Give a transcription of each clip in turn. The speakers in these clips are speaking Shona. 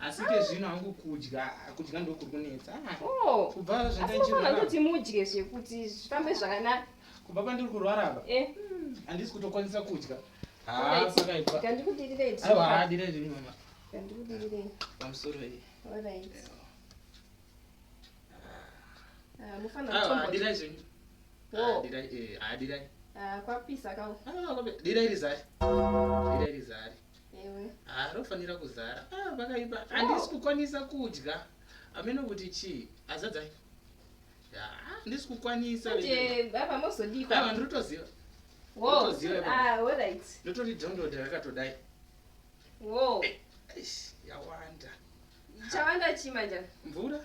asi ke zvino hangu kudya kudya ndokuri kunetsa ah, oh. kubva zvandaitoti mudye zvekuti zvifambe zvakanaka kubva pandiri kurwara apa eh. hmm, handisi kutokwanisa kudya kwapisa kawo dira iri zari dira iri zari haa rofanira kuzara ah, vakaipa oh. handisi kukwanisa kudya ameno kuti chii azadza handisi kukwanisa ndiritoziva ndotori download rakatodai yawanda chawanda chii manja mvura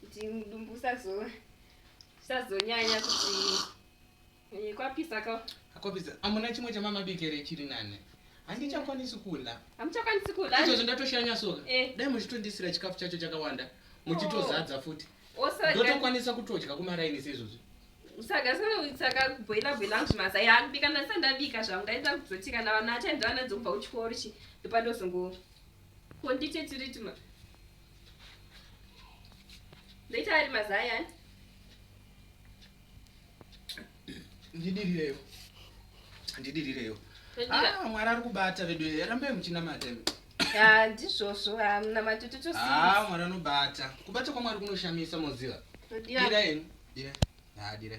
kuti mudumbu usazonyanya kuti eh, kwapisa ka kwapisa amuna chimwe chamama bikere chiri nane handichakwanisi kula hamuchakwanisi kula izvozvo ndatoshanya soka eh. dai muchitondisira chikafu chacho chakawanda muchitozadza futi ndotokwanisa kutodya kumaraini seizvozvi usagasanautsaka kubhoila bhoila angu zvimasa yakubika ndasa ndabika zvangu ndaita kuzotika na vana achaenderana dzokubva kuchikoro chi ndopandozongo kondite tiritima ndoita ari mazion ndidirireyo ndidirireyo ah, mwari ari kubata vedu rambai muchinamata ah, ndizvozvo ah, munamati totosii mwari anobata kubata kwamwari kunoshamisa moziva dira eni dira dira